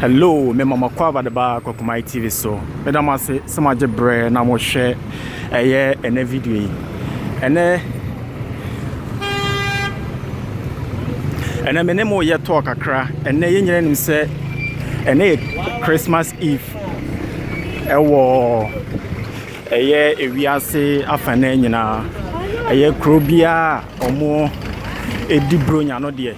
Hello, me mama kwa vadeba kwa kumai TV so. Me da mo ase sɛ mo agye brɛ na mo hwɛ ɛyɛ ɛnɛ video yi. Ɛnɛ ɛnɛ me ne mo yɛ tɔɔ kakra. Ɛnɛ yɛn nyinaa nim sɛ ɛnɛ yɛ Christmas Eve ɛwɔ Ɛyɛ ewiase afanan nyinaa. Ɛyɛ kuro biara a wɔdi Buronya no deɛ.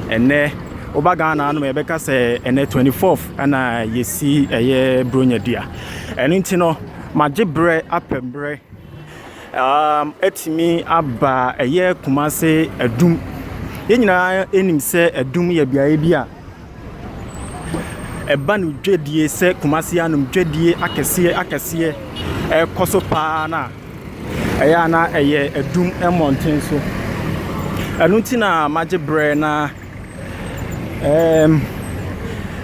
Ɛnnɛ, woba Ghana ha nom a, yɛbɛka sɛ ɛnnɛ 24th na yɛsi ɛyɛ Buronya dua. Ɛno nti no, magye berɛ apɛ berɛ atumi aba ɛyɛ Kumase Adum. Yɛn nyinaa nim sɛ Adum yɛ beaeɛ bi a Ɛba no dwadie sɛ Kumasi hanom dwadie akɛseɛ akɛseɛ ɛrekɔ so paa no a, ɛyɛ a na ɛyɛ adum mmɔnten so. Ɛno nti na magye berɛ na ɛɛm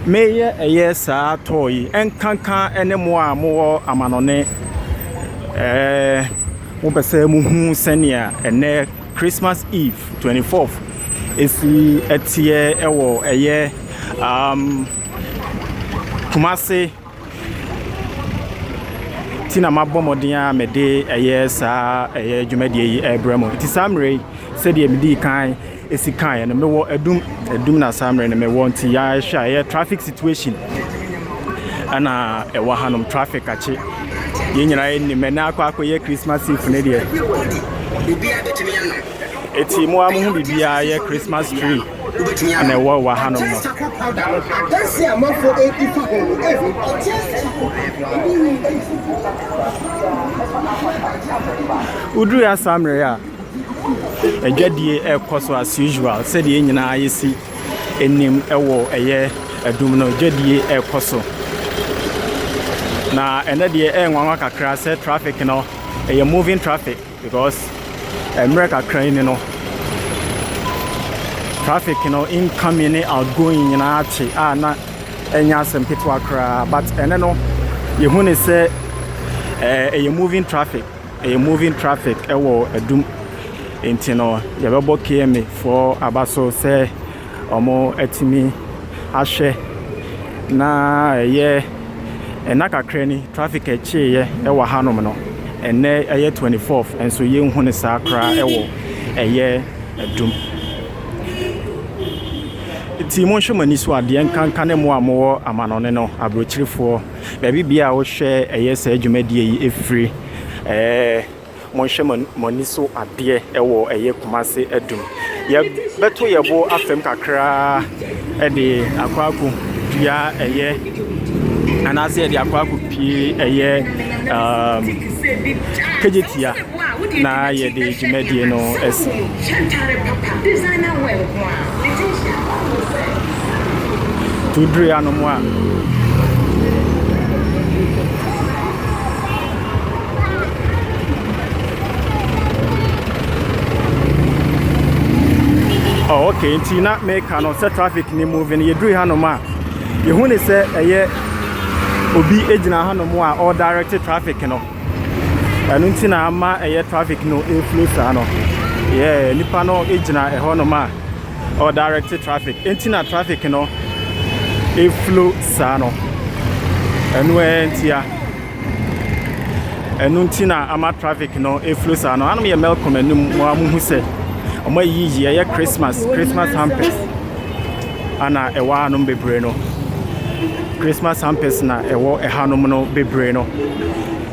meyɛ ɛyɛ saa tɔɔ yi nkanka ne mo a mowɔ amanɔne ɛɛ mopɛ sɛ mohu sɛnea ɛnɛ Christmas Eve, 24th, si teɛ wɔ ɛyɛ um, Kumase ti na mabɔ mmɔden a mede ɛyɛ saa ɛyɛ dwumadie yi ɛrebrɛ mu nti saa mmerɛ yi sɛdeɛ medi kan ɛsi kaeɛ no mewɔ adum adum na saa mmerɛ no mewɔ nti yɛahwɛ a ɛyɛ traffic situation ɛna ɛwɔ hanom traffic akye yɛn nyinaa yɛ nim ɛnɛ akɔ akɔ yɛ christmas eve ne deɛ ɛti mo a mo ho biribiara yɛ christmas tree na ɛwɔ wɔ ha nom no woduru asammerɛ a adwadie ɛrekɔ so as usual sɛdeɛ nyinaa yɛsi anim wɔ ɛyɛ adum no dwadie ɛrekɔ so. Na ɛnɛ deɛ ɛyɛ nwanwa kakra sɛ traffic no ɛyɛ moving traffic because mmerɛ kakra yi ni no traffic no incoming ne outgoing nyinaa te a na ɛnyɛ asɛm ketewa koraa but ɛnɛ no yɛhu ne sɛ ɛyɛ moving traffic. Ɛyɛ moving traffic ɛwɔ adum nti no yɛbɛbɔ KMA foɔ aba so sɛ ɔmo atumi ahwɛ na ɛyɛ ɛna kakra ni traffic ɛkyeeyɛ ɛwɔ ha nom no ɛnɛ ɛyɛ 24th nso yɛnhu ne saa koraa ɛwɔ ɛyɛ adum nti monhwɛ mo ani so adeɛ nkanka ne mo a mowɔ amanɔne no aburokyirifoɔ. Baabi biara a wohwɛ ɛyɛ saa dwumadie yi ɛfiri ɛɛ monhwɛ mo ani so adeɛ ɛwɔ ɛyɛ Kumase adum. Yɛbɛto yɛ bo afam kakraa ɛde akɔ akɔ dua ɛyɛ anaasɛ yɛde akɔ akɔ pie ɛyɛ um, kagyetia. na yɛde dwumadie no asi. Tuduri anom a. Oh, okay, nti na meka no sɛ traffic ne move no yɛduru hanom a yɛhu ne sɛ ɛyɛ obi gyina hanom a ɔredirecte traffic no ɛno nti na ama ɛyɛ traffic no ɛflow saa no yɛ nipa no gyina ɛhɔ nom a ɔdirect traffic nti na traffic no ɛflow saa no ɛno ɛyɛ ntia ɛno nti na ama traffic no ɛflow saa no anom yɛ melcom anim mo a mo hu sɛ ɔmo ayiyi ɛyɛ christmas christmas hampers. a na ɛwɔ hanom bebree no, Christmas hampers na ɛwɔ ɛhanom no bebree no.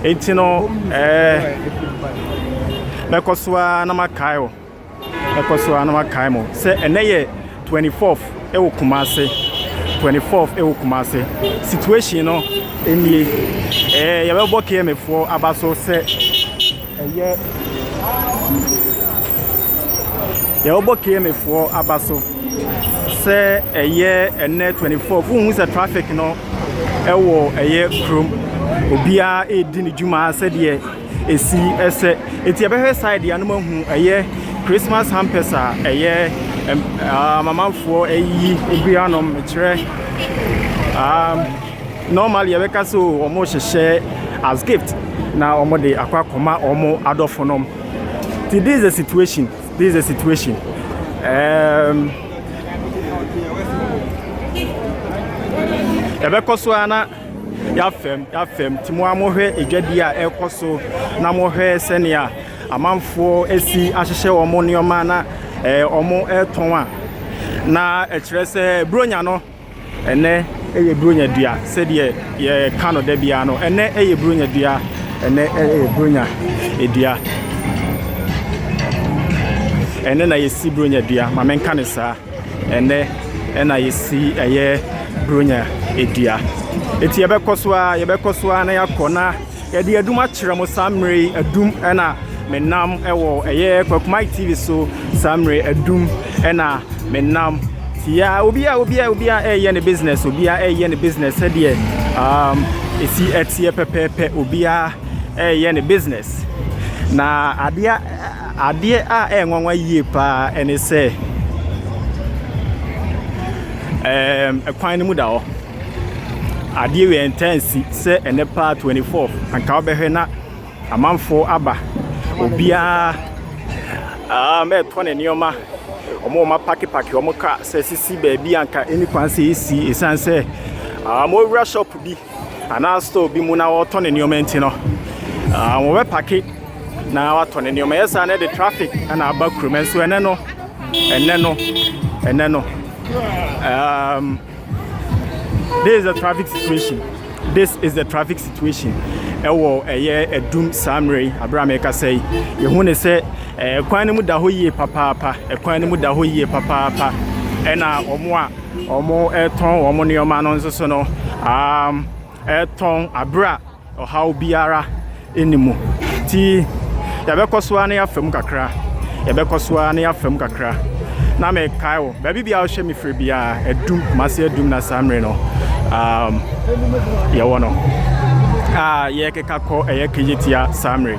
Enti no, ɛɛ mɛkɔ so ara na makae o, mɛkɔ so ara na makae mo sɛ ɛnɛ yɛ 24th ɛwɔ Kumase, 24th ɛwɔ Kumase. Situation no nie, ɛɛ yɛbɛbɔ KMFoɔ aba so sɛ. Ɛyɛ Deɛ wɔbɔ KMA foɔ aba so sɛ ɛyɛ ɛnɛ 24 wohu sɛ traffic no ɛwɔ ɛyɛ kurom obiara ɛredi ne dwuma sɛdeɛ ɛsi ɛsɛ ɛti ɛbɛhwɛ side yɛ anom ahu ɛyɛ Christmas hampers a ɛyɛ amamanfoɔ ɛyi obiara nom kyerɛ um, Normally yɛbɛka sɛ o wɔn hyehyɛ as gift na wɔn de akɔ akɔma wɔn adɔfo nom. Ti this is a situation this is a situation. Um, yɛbɛkɔ so ara na yɛafɛm yɛafɛm ti mo a mohwɛ adwadi a ɛrekɔ so na mohwɛ sɛnea amanfoɔ asi ahyehyɛ wɔn nneɛma na eh, wɔn retɔn a na ɛkyerɛ sɛ buronya no. Ɛnnɛ yɛ Buronya dua sɛdeɛ yɛka no da biara no. Ɛnnɛ yɛ Buronya dua. Ɛnnɛ yɛ Buronya dua. Ɛnnɛ na yɛsi Buronya dua. Ma menka ne saa. Ɛnnɛ ɛna yɛsi ɛyɛ Buronya dua. Eti yɛbɛkɔ so a yɛbɛkɔ so a na yɛakɔ na. Yɛde adum akyerɛ mo saa mmerɛ yi adum ɛna me nam ɛwɔ ɛyɛ Kwakumai TV so saa mmerɛ adum ɛna me nam tia obia obia obia ɛyɛ ne business obia ɛyɛ ne business sɛdeɛ um, ɛsi ɛteɛ pɛpɛɛpɛ obia ɛyɛ ne business na adeɛ adeɛ a ɛyɛ nwanwa yie paa ɛne sɛ ɛkwan no mu da hɔ Adeɛ wei ɛntaa nsi sɛ ɛnɛ paa 24th anka wobɛhwɛ na amanfoɔ aba obiara um, ɛretɔ ne nneɛma wɔn wɔn apakepake wɔn ka sɛ sisi baabi anka ɛni kwan sɛ ɛsi ɛsiane sɛ um, wɔwura shop bi anaa store bi mu na wɔretɔ ne nneɛma nti no um, wɔbɛpake na watɔ ne nneɛma yɛ saa na ɛde traffic na aba kurom nso ɛnɛ no ɛnɛ no ɛnɛ no um, This is the traffic situation. This is the traffic situation. Ɛwɔ ɛyɛ ɛdum saa mmerɛ yi abira mi kasa yi. Yehu ne sɛ ɛkwan no mu da hɔ yie papaapa. Ɛkwan no mu da hɔ yie papaapa. Ɛna wɔn a wɔn ɛtɔn wɔn nneɛma no nso so no um, ɛtɔn abira. Ɔhaw biara nni mu. Nti yɛbɛkɔ so ara na yɛafa mu kakra, yɛbɛkɔ so ara na yɛafa mu kakra. Na mekae wo, baabi biara wohyɛ me firi biara, adum, Kumasi adum na saa mmere no um, yɛwɔ no. A yɛkeka kɔ ɛyɛ kegyetia saa mmere.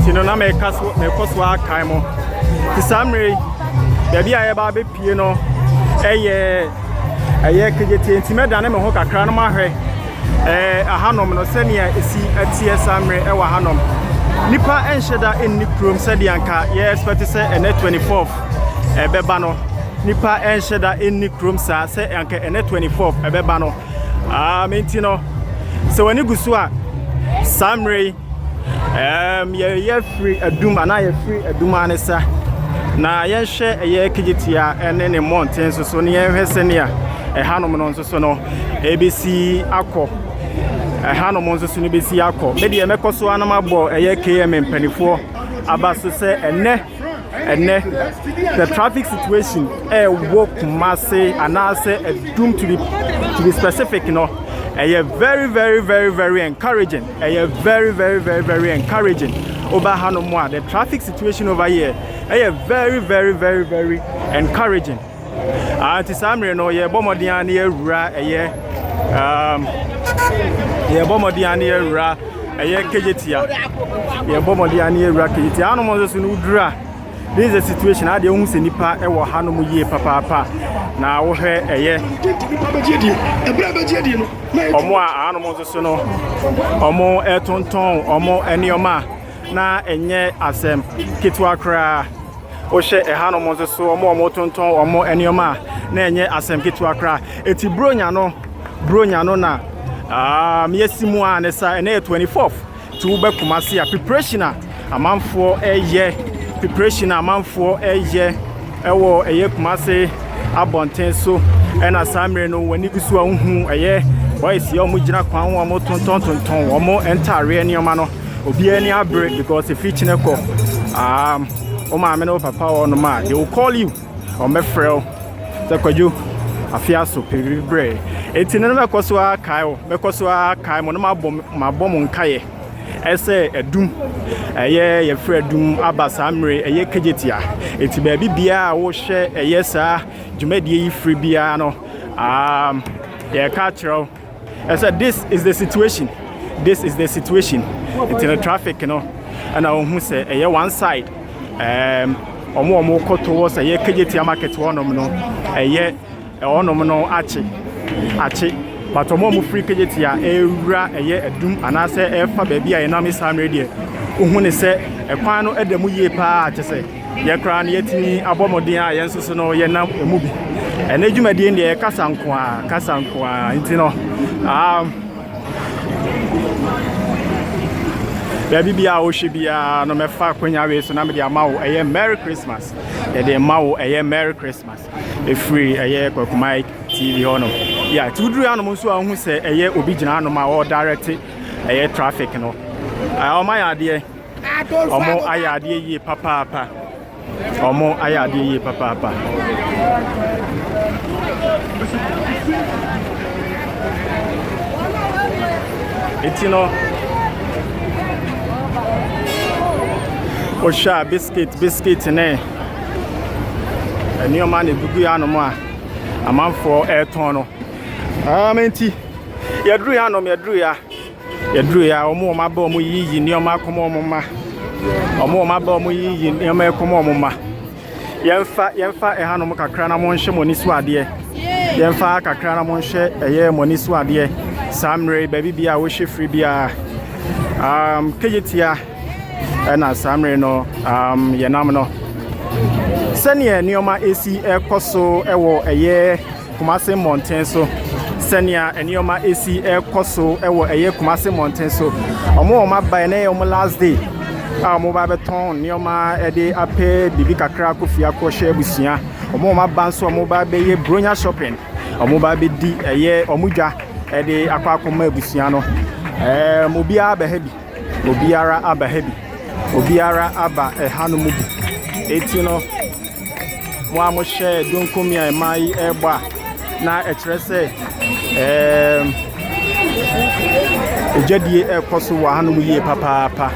nti no na meka so mekɔ so akae mo nti saa mmerɛ yi baabi a yɛba abɛpie no ɛyɛ ɛyɛ kegyetie nti mɛdane me ho kakra no mahwɛ ɛɛ ahanom no sɛnea ɛsi ɛteɛ saa mmerɛ ɛwɔ ahanom nipa ɛnhyɛ da ɛnni kurom sɛdeɛ anka yɛ expect sɛ ɛnɛ 24 ɛbɛba no nipa ɛnhyɛ da ɛnni kurom saa sɛ anka ɛnɛ 24 ɛbɛba no Um, enti no, sɛ w'ani gu so a, saa mmerɛ yi, um, yɛyɛ firi adum anaa yɛfiri adum anesa na yɛnhwɛ ɛyɛ kegyetia ne ne mmɔnten nso so ne yɛnhwɛ sɛnea ɛhanom no nso so no ɛbɛsi akɔ ɛhanom nso so no bɛsi akɔ me deɛ mɛkɔ so anom abɔ ɛyɛ km mpanimfoɔ aba so sɛ ɛnɛ ɛnɛ the traffic situation ɛwɔ kumase anaasɛ ɛdum to be to be specific no ɛyɛ very very very very encouraging ɛyɛ very very very very encouraging ɔba ha no mu a the traffic situation over here ɛyɛ very very very very encouraging. Nti saa mmerɛ no yɛbɔ mmɔden a na yɛawura ɛyɛ um, yɛbɔ mmɔden a na yɛawura ɛyɛ kegyetia yɛbɔ mmɔden a na yɛawura kegyetia hanom nso so no woduru a this is a situation a deɛ wohu sɛ nipa ɛwɔ hanom yie papaapa na wohwɛ ɛyɛ ɔmo a hanom nso so no ɔmo ɛtontɔn ɔmo nneɛma a na ɛnyɛ asɛm ketewa koraa. Wohwɛ ɛhanom nso so, wɔn a wɔtontɔn wɔn nneɛma a, na ɛnyɛ asɛm ketewa koraa. Eti buronya no, buronya no na um, yɛsi mu a ne sa, ɛnɛ yɛ 24th, ti wobɛ Kumasi a, preparation a amanfoɔ ɛyɛ, preparation a amanfoɔ ɛyɛ ɛwɔ ɛyɛ Kumasi abɔnten so, ɛna saa mmerɛ no wɔn ani gu so a wohu ɛyɛ boys yɛ wɔn gyina kwan ho a wɔtontɔn tontɔn wɔn ntaareɛ nneɛma no. Obiara ani abere because efi kyene kɔ. Um, wo maame ne wo papa wɔ nom a, they will call you. Wɔbɛfrɛ wo sɛ kwadwo afe aso pɛbiri brɛ. Eti no bɛkɔ so ara kae wo, bɛkɔ so ara kae mo no mabɔ mabɔ mo nkaeɛ. Ɛsɛ adum, ɛyɛ yɛfrɛ adum aba saa mmere ɛyɛ kagyetia. Eti baabi biara a wohyɛ ɛyɛ saa dwumadie yi firi biara no, um, yɛka kyerɛ wo Ɛsɛ this is the situation this is the situation nti no traffic no ɛna ɔhu sɛ ɛyɛ one side um, ɔmo ɔmo kɔ towards ɛyɛ kegyetia market hɔnom no ɛyɛ ɔnom no akye akye but ɔmo ɔmo firi kegyetia ɛwura ɛyɛ adum anaasɛ ɛfa baabi a ɛnam saa mmerɛ deɛ wohu ne sɛ ɛkwan no ɛda mu yie paa kyɛ sɛ Yɛn koraa no, yɛatumi abɔ mmɔden a yɛn nso so no yɛnam emu bi. Ɛnɛ dwumadie no deɛ yɛ kasa nko a, kasa nko a. Nti no, um, baabi bi a wohwɛ biara no mɛfa akwanya wei so na mede ama wo ɛyɛ merry christmas yɛde ma wo ɛyɛ merry christmas ɛfiri ɛyɛ kwakumai tv hɔ no yɛ nti woduru anom nso a wohu sɛ ɛyɛ obi gyina anom a ɔredirecte ɛyɛ traffic no ɔma yɛ adeɛ Wɔn ayɛ adeɛ yie papaapa. Wɔn ayɛ adeɛ yie papaapa. Eti no, wohwɛ a biscuit biscuit ne nneɛma na egugu anom a amanfoɔ ɛretɔn no. Um, nti yɛduru yɛ anom yɛduru yɛ a. Yɛdurui a, wɔn a wɔaba wɔn yiyi nneɛma akɔma wɔn mma. Wɔn a wɔaba wɔn yiyi nneɛma akɔma wɔn mma. Yɛmfa yɛmfa ɛhanom kakra na monhyɛ mo ani so adeɛ. Yɛmfa ha kakra na monhyɛ ɛyɛ mo ani so adeɛ. Saa mmerɛ yi baabi biara a wohyɛ firi biara. Um, kegyetia ɛna saa mmerɛ no um, yɛnam no. Sɛnea nneɛma esi ɛkɔ so ɛwɔ ɛyɛ Kumase mmɔnten so sɛnea nneɛma esi rekɔ so wɔ ɛyɛ Kumase mmɔnten so wɔn wɔn abae na ɛyɛ wɔn last day a wɔn ba bɛtɔn nneɛma de apɛ biribi kakra akɔ fie akɔhyɛ abusua wɔn wɔn aba nso wɔn ba bɛyɛ bronya shopping wɔn ba bɛdi ɛyɛ wɔn dwa de akɔ akɔma abusua no ɛɛ obiara bɛha bi. Obiara aba ha bi. Obiara aba ɛhanom bi. Enti no, mo a mohyɛ donkomi a mmaa yi rebɔ a, na ɛkyerɛ sɛ ɛɛm adwadie rekɔ so wɔ hanom yie papaapa.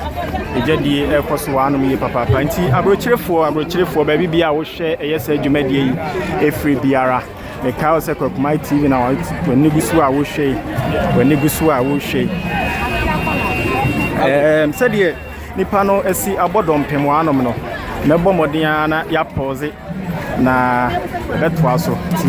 Adwadie rekɔ so wɔ hanom yie papaapa. Nti aburokyerefoɔ aburokyerefoɔ baabi biara a wohwɛ ɛyɛ saa dwumadie yi ɛfiri biara. Mekae wo sɛ Kwakumai TV na w'ani gu so a wohwɛ yi. W'ani gu so a wohwɛ yi. Ɛɛm sɛdeɛ nipa no asi abɔ dɔmpem wɔ anom no, mɛbɔ mmɔden ara na yɛapɔɔze na ɛbɛtoa so ti.